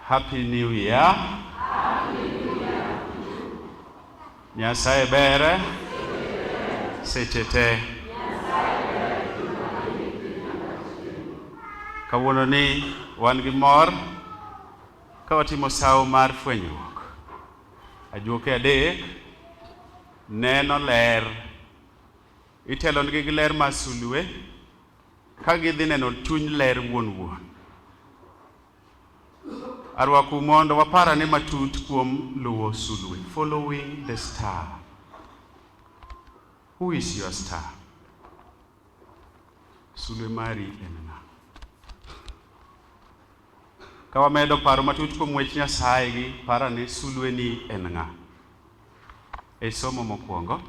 Happy New Year. Nyasaye bere seche te. Kawuono ni wan gi mor ka watimo sawo mar fwenyruok. Ajuoke adek neno ler, itelonigi gi ler mar sulwe ka gidhi neno chuny ler wuon wuon. Arwakou mondo wapar ane matut kuom luwo sulwe, following the star. Who is your star? Sulwe mari en ng'a? Ka wamedo paro matut kuom wech Nyasaye gi par ane sulweni en ng'a? E somo mokwongo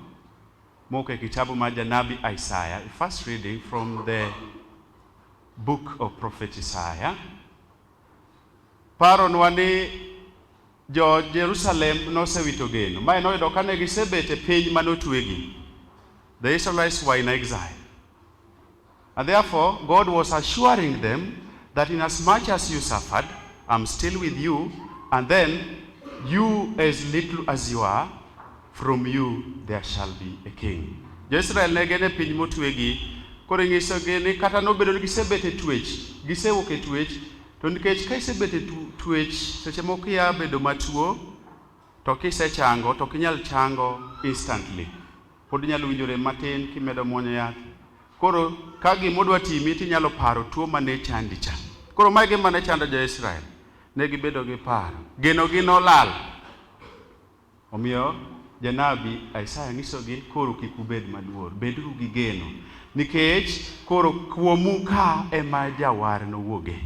mowuok e kitabu mar janabi Isaya, first reading from the Book of Prophet Isaiah paronwa ni jo Jerusalem nosewito geno. Mae noyudo kane gisebet e piny mane otwegi. The Israelites were in exile. And therefore, God was assuring them that in as much as you suffered, I'm still with you, and then you as little as you are, From you there shall be a king. Jo-Israel ne gin e piny motwegi, koro inyisogi ni kata nobedo ni gisebet e twech, gisewuok e twech, to nikech ka isebet e twech seche moko kia bedo matuo, to kisechango to ok inyal chango instantly. Pod inyalo winjo rem matin kimedo muonyo yath. Koro ka gima odwa timi to inyalo paro tuo mane chandi cha. Koro mae gima ne chando jo-Israel. Ne gibedo gi paro. Genogi nolal. Omiyo, janabi Isaya nyisogi ni koro kik ubed maluor, beduru gi geno, nikech koro kuomu ka ema Jawar nowuoge,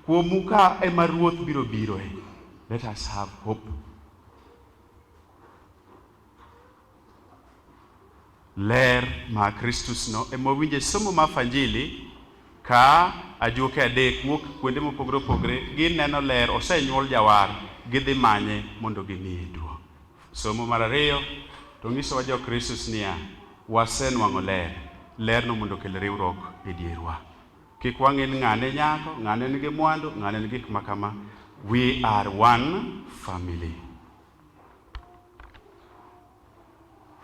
kuomu ka ema Ruoth biro biroe. Let us have hope. Ler ma Kristus no ema wawinje e somo ma Fanjili ka ajuoke adek wuok kuonde mopogore opogore, gineno ler, osenyuol jawar, gidhi manye mondo gimiye duong'. Somo mar ariyo to nyisowa jo Kristus niya, wasenwang'o ler, lerno mondo okel riwruok e dierwa. Kik wang'e ni ng'ane nyako, ng'ane nigi mwandu, ng'ane nigi gik makama. We are one family.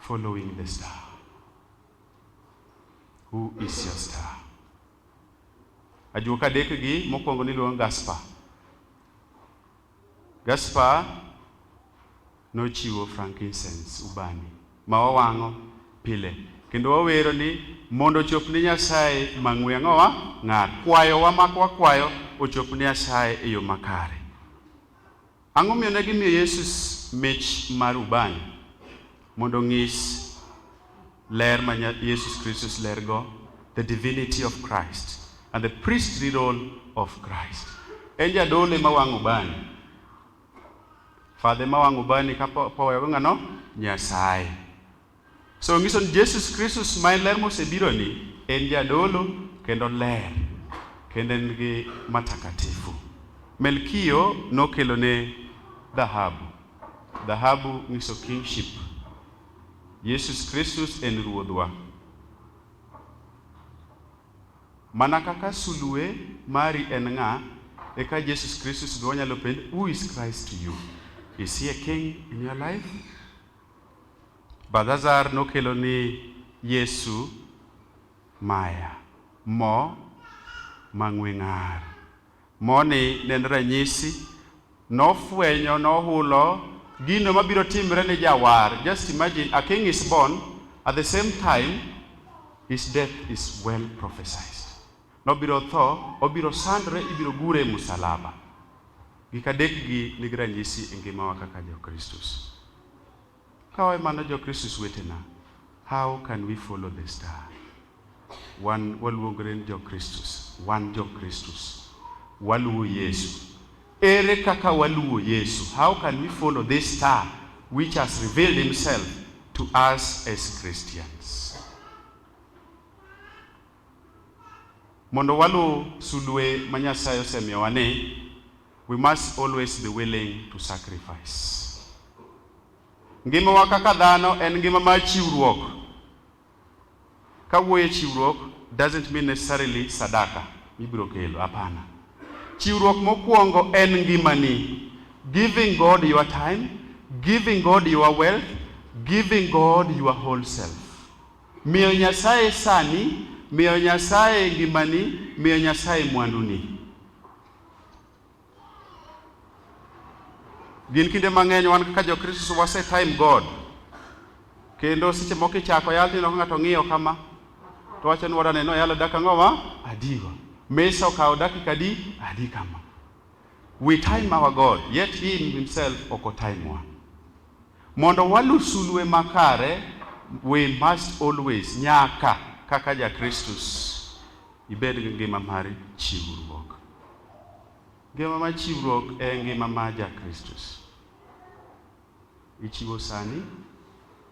Following the star. Who is your star? Ajuoka adek gi mokwongo niluongo Gaspar. Gaspar nochiwo frankincense ubani ma wawang'o pile kendo wawero ni mondo ochop ne Nyasaye mang'we ang'owa ng'ar kwayowa mak wakwayo ochop ne Nyasaye e yo makare. Ang'o momiyo ne gimiyo Yesus mich mar ubani? Mondo onyis ler ma Yesus Kristus lergo, the divinity of Christ and the priestly role of Christ. En jadolo ma wang'o ubani. Fadhe ma wang'o ubani ka powewago ng'ano? Nyasaye. So nyiso ni Jesus Kristus ma en ler mosebiro ni en jadolo kendo ler kendo en gi matakatifu. Melkio nokelo ne dhahabu. Dhahabu nyiso kingship. Jesus Kristus en ruodhwa. Mana kaka sulue mari en ng'a, eka Jesus Kristus be wanyalo penj, who is Christ to you? Is he a king in your life? Balthazar nokelo ni Yesu maya, mo mang'we ng'ar. Moni ne en ranyisi, nofwenyo, nohulo gino mabiro timre ne Jawar. Just imagine, a king is born, at the same time his death is well prophesied. Nobiro tho, obiro sandre, ibiro gure e musalaba. Gik adekgi nigi ranyisi e ngimawa kaka Jokristus. Kawae mano Jokristus wetena, how can we follow the star? Wan waluongre ni Jokristus, wan Jokristus, waluwo Yesu. Ere kaka waluwo Yesu? How can we follow this star which has revealed himself to us as Christians? Mondo waluw sulwe ma Nyasaye osemiyowa ni, we must always be willing to sacrifice. Ngimawa kaka dhano en ngima mar chiwruok. Kawuoye chiwruok doesn't mean necessarily sadaka mibiro kelo, hapana. Chiwruok mokwongo en ngimani, giving God your time, giving God your wealth, giving God your whole self. Miyo Nyasaye sani, miyo Nyasaye ngimani, miyo Nyasaye mwanduni. Gin kinde mang'eny wan kaka Jokristo wase time God. Kendo seche moko ichako yal tineno ka ng'ato ng'iyo kama to wacho ni wadane no yalo dakika ang'o ma adigo. Mesa okawo dakika adi adi kama. We time our God yet he himself ok otimewa. Mondo walu sulwe makare, we must always, nyaka, kaka ja Kristus, ibed gi ngima mar chiwruok. Ngima mar chiwruok e ngima mar ja Kristus. Ichiwo sani,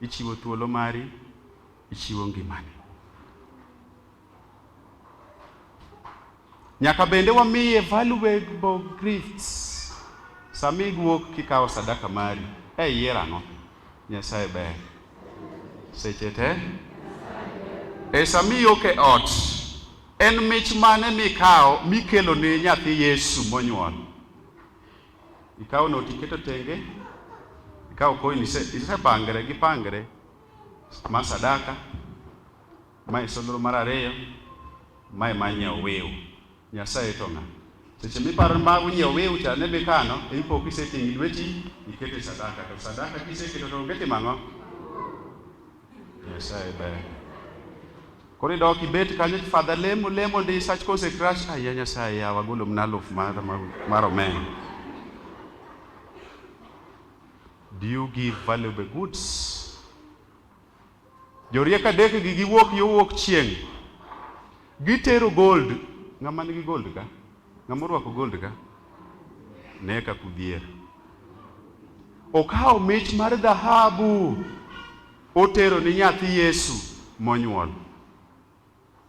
ichiwo thuolo mari, ichiwo ngimani. Nyaka bende wamiye valuable gifts. Sami guok kikawo sadaka mari, e iyiero ang'o? Nyasaye ber. Seche te. E sami ok e ot, en mich mane mikawo mikelo ne nyathi Yesu monyuol? Ikawo not iketo tenge, ikawo coin isepangre gi pangre ma sadaka Mae solro mar ariyo, mae ma nyiewo wiu. Nyasaye to ng'a? Seche miparo ma nyiewo wiu cha ne bikano, ipo kiseting'i lweti ikete sadaka, to sadaka kiseketo to onge timang'o? Nyasaye ber. Koro idok ibet kanyo fadha lemo lemo ndi sach kose crash aya Nyasaye yawa golo mna aluf mar mar omena. Do you give valuable goods? Jorieko adekgi giwuok yo wuok chieng', gitero gold. Ng'ama nigi gold ka? Ng'ama orwako gold ka? Ne ka kudhier. Okawo mich mar dhahabu otero ni nyathi Yesu monyuol.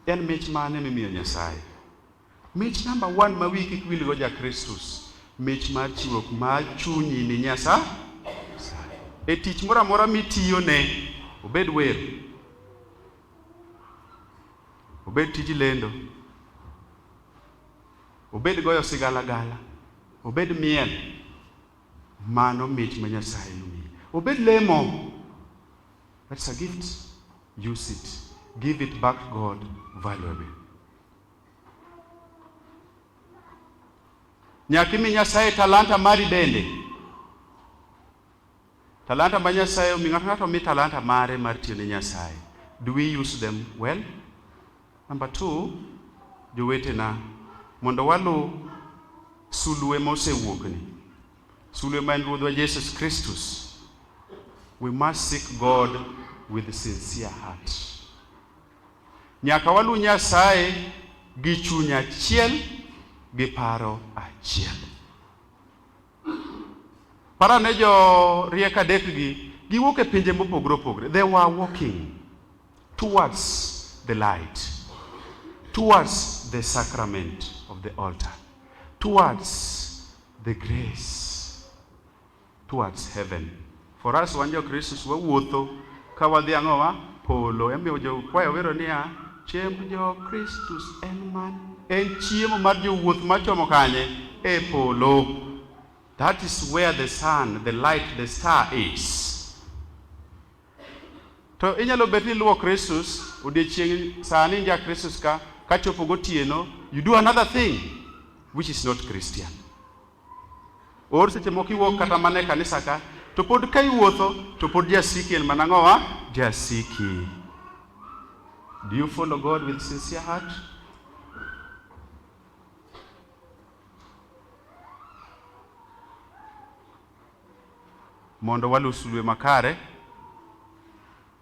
En mich mane mimiyo Nyasaye? Mich namba one ma wiyi kik wilgo ja Kristus, mich mar chiwo mar chunyi ni Nyasaye. E tich moro amora mitiyone, obed wer, obed tij lendo, obed goyo sigalagala, obed miel, mano mich ma Nyasaye omiyi. Obed lemo, That's a gift. Use it. Give it back to God valuably. Nyakimi Nyasaye talanta mari bende. Talanta ma Nyasaye omi ng'ato ng'ato omi talanta mare mar tiyo ne Nyasaye. Do we use them well? Number two, jowetena mondo waluw sulue mosewuokni. Sulwe ma en Ruodhwa Jesus Kristus, we must seek God with sincere heart. Nyaka walu Nyasaye gi chuny achiel gi paro achiel. Para ne jo riek adek gi giwuok e pinje mopogore opogore. They were walking towards the light, towards the sacrament of the altar, towards The grace towards heaven. For us wan jo Kristus wawuotho ka wadhi ang'owa polo. Emiyo jo kwayo wero niya, chiemb jo Kristus en man. En chiemo mar jowuoth machomo kanye? E polo. That is where the sun, the light, the star is. To inyalo bet ni luwo Kristus odiechieng' sani nja Kristus ka kachopo gotieno you do another thing which is not Christian. Or seche moko iwuok kata mana e kanisa ka to pod ka iwuotho to pod jasiki en mana ng'owa jasiki. Do you follow God with sincere heart? mondo waluw sulwe makare,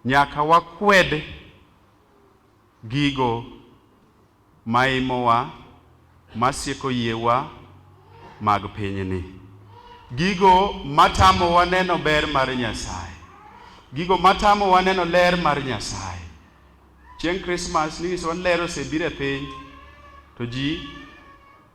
nyaka wakwed gigo maimowa masieko yiewa mag pinyni, gigo matamowa neno ber mar Nyasaye, gigo matamowa neno ler mar Nyasaye. Chieng' Krismas nyiso ler osebiro e piny to ji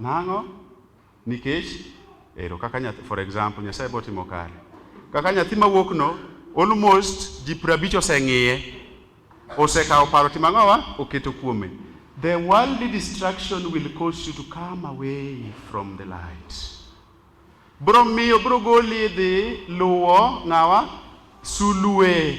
Nang'o? Nikech ero kaka nyathi, for example, Nyasaye bo timo kare. Kaka nyathi mawuok no, almost ji prabich oseng'iye, osekawo paro timo ang'owa, oketo kuome. The worldly distraction will cause you to come away from the light. Bro miyo, bro goli dhi luwo ng'awa? Sulue.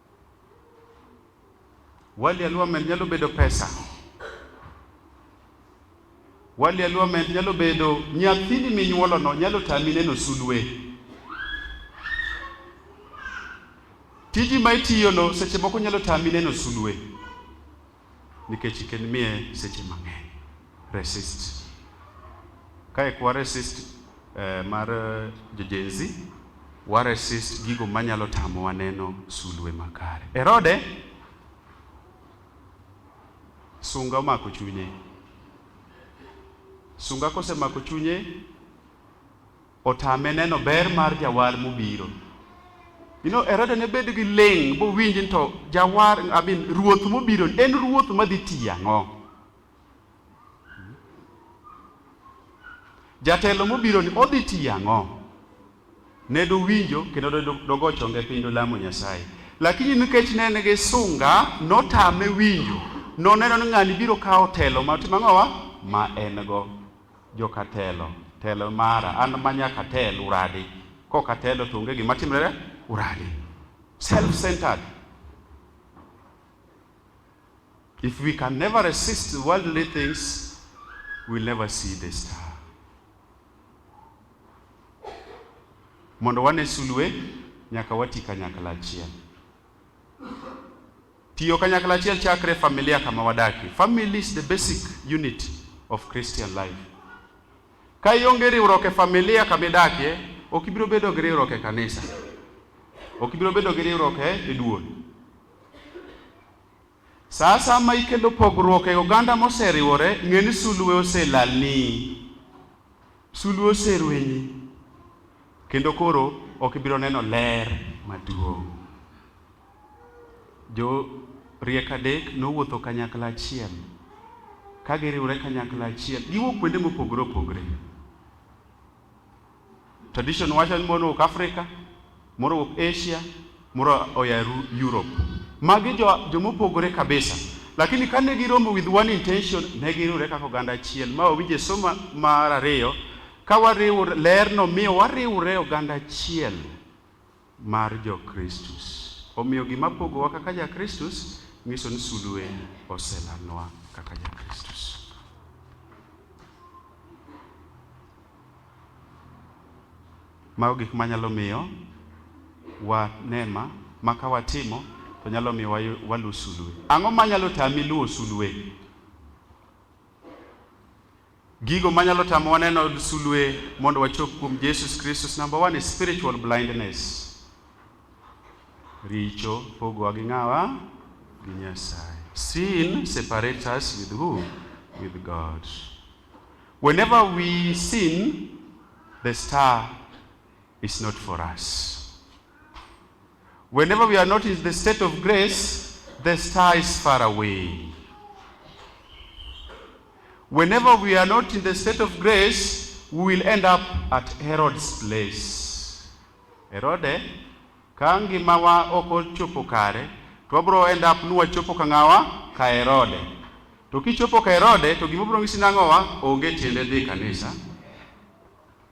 Wali aluamen nyalo bedo pesa. Wali aluamen nyalo bedo nyathini minyuolono nyalo tami neno sulwe. Tiji ma itiyono seche moko nyalo tami neno sulwe. Nikech iken miye seche mang'eny. Resist. Kae kwa resist eh, mar eh, jo Gen Z, wa resist gigo manyalo tamowa neno sulwe makare. Herode sunga omako chunye. Sunga kosemako chunye otame neno ber mar jawar mobiro. You know, Herode ne bedo gi ling' bowinj ni to jawar, I mean, ruoth mobiro en ruoth madhi tiyo ang'o? Jatelo mobiro ni odhi tiyo ang'o? Ne dowinjo kendo do- dogo chonge piny dolamo Nyasaye. Lakini nikech ne en gi sunga, notame winjo. Noneno ni ng'ani biro kawo telo ma timo ang'owa? Ma en go. Joka telo, tel mara, an ma nyaka tel, uradi. Kok atelo to onge gima timrere, uradi. Self-centered. If we can never resist worldly things, we'll never see the star. Mondo wane sulwe, nyaka wati kanyakla achiel. Tiyo kanyakla achiel chakre familia kama wadakie. Family is the basic unit of Christian life. Ka ionge riwruok e familia kama idakie, ok ibiro bedo gi riwruok e kanisa. Ok ibiro bedo gi riwruok e duol. Sa asaya ma ikelo pogruok e oganda moseriwore, ng'e ni sulwe oselalni. Sulwe oserwenyi. Kendo koro ok ibiro neno ler maduong'. Jo riek adek nowuotho kanyakla achiel. Ka giriwre kanyakla achiel, giwuok kuonde mopogore opogore. Tradition wacho ni mono wuok Africa, moro wuok Asia, moro oya Europe. Magi jo jomopogore kabisa. Lakini kane giromo with one intention, ne giriwore kaka oganda achiel. Ma owinje somo mar ariyo, ka wariwore, lerno miyo wariwore oganda achiel. mar jo Kristus. Omiyo gima pogowa kaka ja Kristus nyiso ni sulue oselalnwa kaka ja Kristus. Mago gik manyalo miyo wanema ma ka watimo to nyalo miyo waluw sulue. Ang'o manyalo tami luwo sulue? Gigo manyalo tamo waneno sulwe mondo wachop kuom Jesus Kristus, number one is spiritual blindness. Richo pogowa gi ng'awa? Gi Nyasaye. Sin separates us with who? With God. Whenever we sin, the star It's not for us. Whenever we are not in the state of grace, the star is far away. Whenever we are not in the state of grace, we will end up at Herod's place. Herode, ka ngimawa ok ochopo kare, to wabiro end up ni wachopo ka ng'awa ka Herode. To kichopo ka Herode, to gima biro ng'isi nang'owa onge tiende dhi kanisa.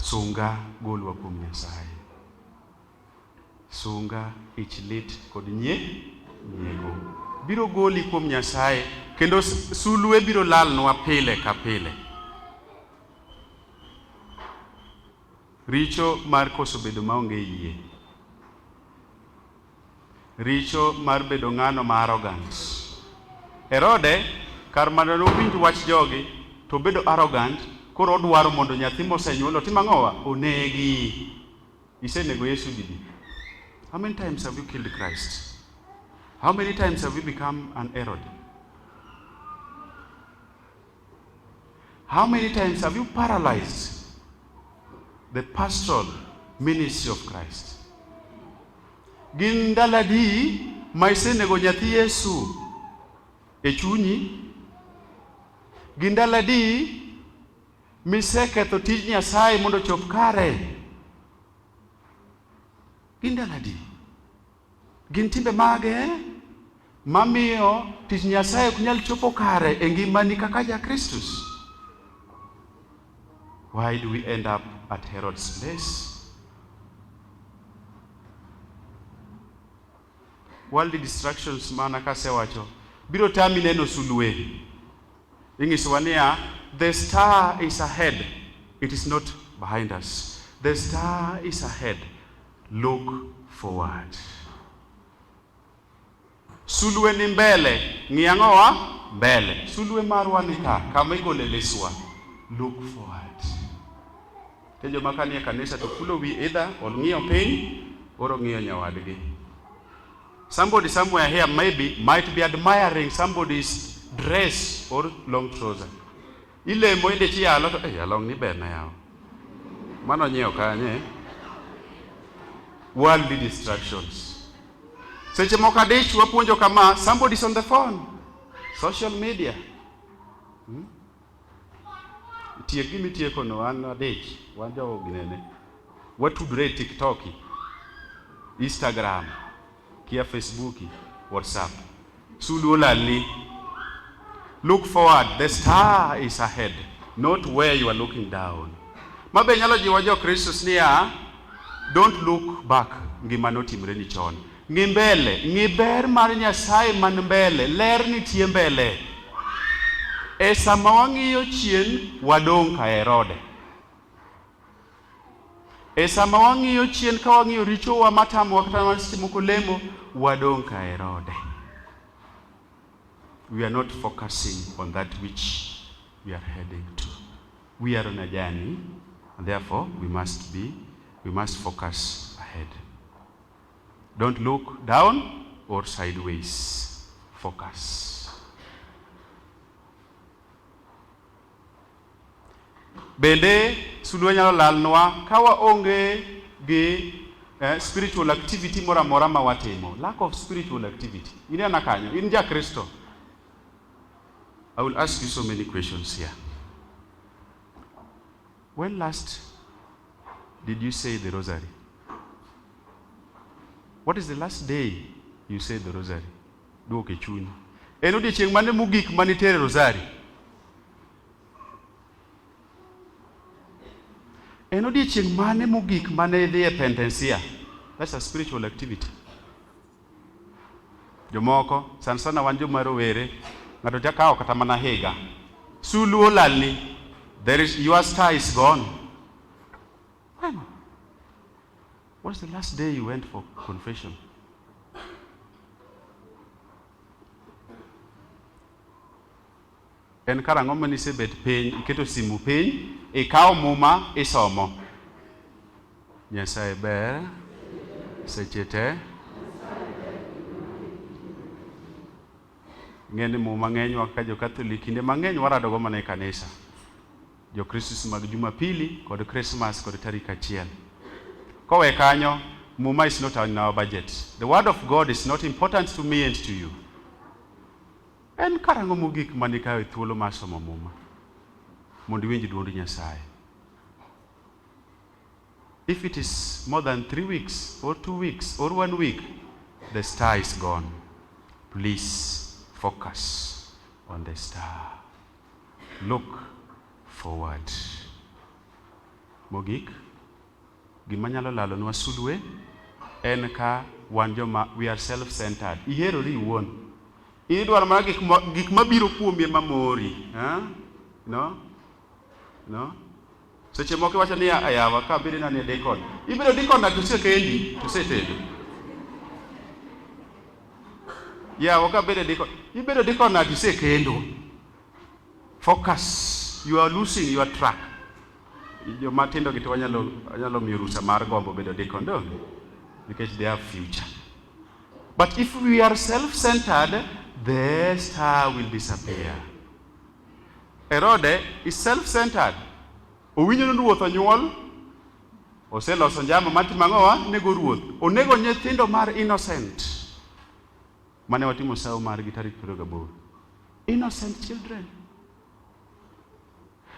Sunga, golwa kuom Nyasaye. Sunga, ich lit kod nye, nyiego. Biro goli kuom Nyasaye, kendo sulwe biro lalnwa pile ka pile. Richo mar koso bedo maonge yie. Richo mar bedo ng'ano ma arrogant. Herode kar mondo ne owinj wach jogi to obedo arrogant koro odwaro mondo nyathi mosenyuol otim ang'owa? Onegi. Isenego Yesu didi? How many times have you killed Christ? How many times have you become an Herod? How many times have you paralyzed the pastoral ministry of Christ? Gin ndalo adi ma isenego nyathi Yesu e chunyi? Gin ndalo adi miseketho tij Nyasaye mondo ochop kare? Gin ndalo adi? Gin timbe mage mamiyo tich Nyasaye ok nyal chopo kare e ngimani kaka ja Kristus? Why do we end up at Herod's place? Worldly distractions mana kasewacho biro tami neno sulwe. Ing'isowa niya, the star is ahead, it is not behind us. The star is ahead. Look forward. Sulwe ni mbele, ng'i ang'owa? Mbele. Sulwe marwa ni ka, kama igole liswa. Look forward. Te joma ka nie kanisa to kulo wi idha, ong'iyo piny, or ong'iyo nyawadgi. Somebody somewhere here maybe might be admiring somebody's dress or long trouser. Ilemo inde chi yalo to eh along ni ber na yawa. Mano nyiewo kanye? Worldly distractions. Seche moko adich wapuonjo kama somebody is on the phone. Social media. Hmm? Tiek gimi tieko no an adich wan jogo ginene. Watudre e TikTok, Instagram. kia Facebook, WhatsApp. Sulu lali. Look forward, the star is ahead, not where you are looking down. Mabe nyalo jiwo jo Kristus niya, don't look back ngima notimre ni chon. Ng'i mbele, ng'i ber mar Nyasaye man mbele, ler nitie mbele. E sama wang'iyo chien, wadong' ka Herode. E sama wang'iyo chien ka wang'iyo richowa matamowa kata mana seche moko lemo, wadong' ka Herode. We are not focusing on that which we are heading to. We are on a journey and therefore we must be, we must focus ahead. Don't look down or sideways. Focus. Bende sulwe nyalo lalnwa ka waonge gi eh, spiritual activity moro amora ma watimo. Lack of spiritual activity. Inena kanyo, in ja Kristo. I will ask you so many questions here. When last did you say the rosary? What is the last day you said the rosary? Duok e chuny. En odiechieng' mane mogik ma nitere rosari? En odiechieng' mane mogik mane idhi e pendensia? That's a spiritual activity. Jomoko sana sana wan joma rowere, ng'ato jakawo kata mana higa. Sulu olalni, there is your star is gone. Bueno. What's the last day you went for confession? En karang'o ma nisebet piny, iketo simu piny, ikawo muma isomo. Nyasaye ber seche te. Ng'e ni muma ng'enywa ka jo Katholik kinde mang'eny waradogo mana e kanisa. Jokristo mag Jumapili kod Christmas kod tarik achiel. Kowe kanyo, Muma is not in our budget. The word of God is not important to me and to you. En karang'o mogik mane kawo e thuolo mar somo Muma mondo iwinj duond Nyasaye? If it is more than three weeks or two weeks or one week, the star is gone. Please focus on the star. Look forward. Mogik, gima nyalo lalonwa sulwe en ka wan joma we are self centered. Iherori iwuon. Idwaro mana gik gik mabiro kuomi ema mori. Eh? No? No? Seche moko iwacho ni ayawa ka biri na ne dikon. Ibiro dikon na tuse kendi, tuse tedo. Yawa ka biri dikon. Ibiro dikon na tuse kendo. Focus. You are losing your track. Jo matindo gitu wanyalo wanyalo miyo rusa mar gombo bedo dikon do. Because they have future. But if we are self-centered, the star will disappear. Herode is self-centered. Owinjo ni ruoth onyuol, oseloso njama mar timo ang'owa, nego ruoth. Onego nyithindo mar innocent. Mane watimo sawo margi tarik 28. Innocent children.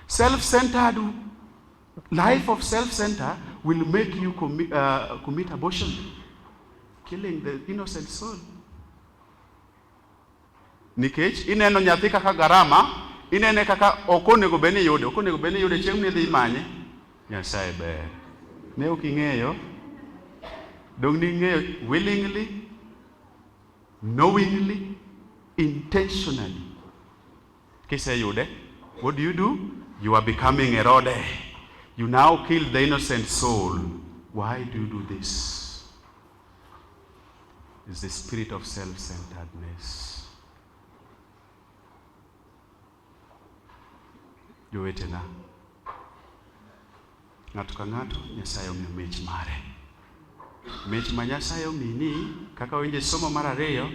Self-centered life of self-center will make you commi uh, commit abortion, killing the innocent soul. Nikech ineno nyathi kaka garama, inene kaka ok onego bed ni yude, ok onego bed ni yude chieng' midhi imanye. Nyasaye ber. Ne ok ing'eyo. Dong' ni ing'eyo willingly, knowingly, intentionally. Kiseyude, what do you do? You are becoming a rode. You now kill the innocent soul. Why do you do this? is the spirit of self centeredness. Jowetena, ng'ato ka ng'ato Nyasaye omiyo mich mare. Mich ma Nyasaye omini kaka winje somo mar ariyo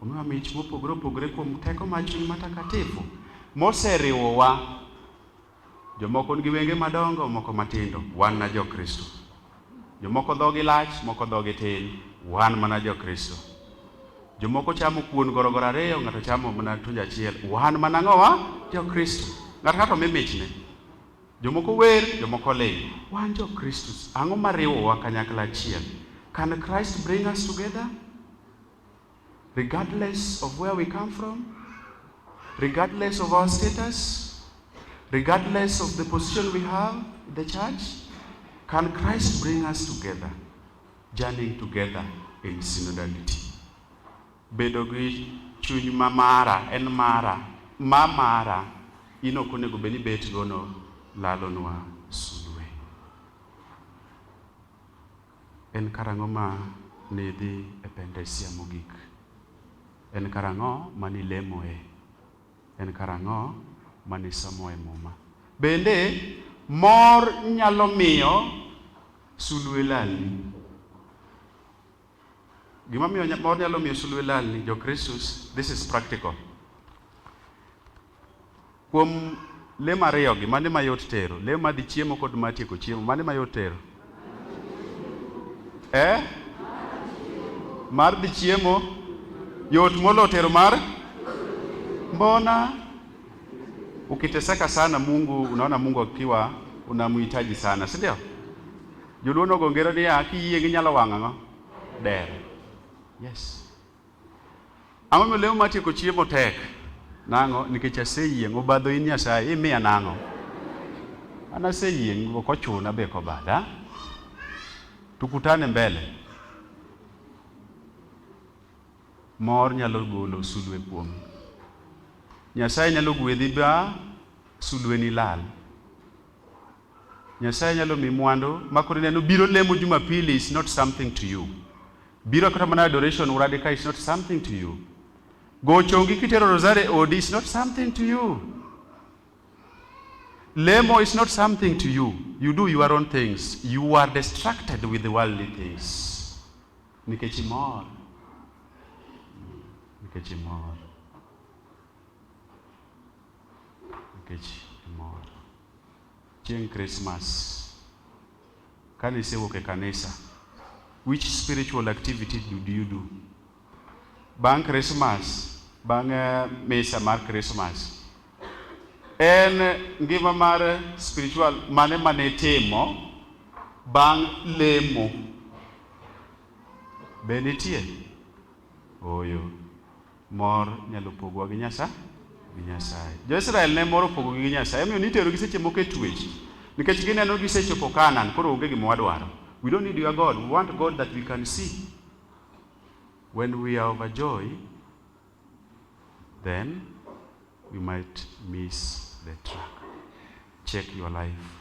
omiwa mich mopogore opogore kuom teko mar chuny matakatifu moseriwowa Jomoko nigi wenge madongo, moko matindo. Wan na jo Kristo. Jomoko dhogi lach, moko dhogi tin. Wan mana jo Kristo. Jomoko chamo kuon gorogoro ariyo, ng'ato chamo mana tunjo achiel. Wan mana ng'owa? Jo Kristo. Ng'ato ng'ato mi michne. Jomoko wer, jomoko ling'. Wan jo Kristo. Ang'o mariwowa kanyakla achiel? Can Christ bring us together? regardless of where we come from, regardless of our status, regardless of the position we have in the church, can Christ bring us together, journeying together in synodality. Bedo gi chuny ma mara en mara, ma mara in ok onego bed ni bet gono lalonwa sulwe. En karang'o ma nidhi e pentesia mogik? En karang'o ma nilemoe? En karang'o ma nisomoe Muma? Bende, mor nyalo miyo sulwe lalni. Gima miyo mor nyalo miyo sulwe lalni, Jokristus, this is practical. Kuom le mariyogi, mane mayot tero? Le madhi chiemo kod matieko chiemo, mane mayot tero? Eh? Mar dhi chiemo yot molo tero mar mbona ukiteseka sana Mungu, unaona Mungu akiwa unamhitaji sana, si ndio? Joluo nogo ngero niya, kiyie ginyalo wang'o ang'o? Dere. Yes. Ang'o momiyo lemo mar tieko chiemo tek? Nang'o? Nikech aseyieng'. Obadho in Nyasaye, imiya nang'o? An aseyieng', ok ochuna be kobada. Tukutane mbele. Mor nyalo golo sulwe kuom. Nyasaye nyalo gwedhi ba sulweni lal. Nyasaye nyalo mi mwandu makoro ineno biro lemo Jumapili is not something to you. Biro kata mana adoration uradi ka is not something to you. Gochongi kitero rosary e odi is not something to you. Lemo is not something to you. You do your own things. You are distracted with the worldly things. Nikech imor. Nikech imor. nikech imor. Chieng' Christmas, kane isewuok e kanisa, which spiritual activity did you do? Bang' Christmas, bang' eh, misa mar Christmas, en ngima mar spiritual mane mane itimo bang' lemo? Be nitie? Ooyo. Mor nyalo pogowa gi Nyasaye gi Nyasaye. Jo-Israel ne moro pogogi gi Nyasaye, omiyo niterogi seche moko e twech nikech gineno gisechopo Kanaan, koro onge gima wadwaro. We don't need your God, we want God that we can see. When we are overjoyed, then we might miss the track. Check your life.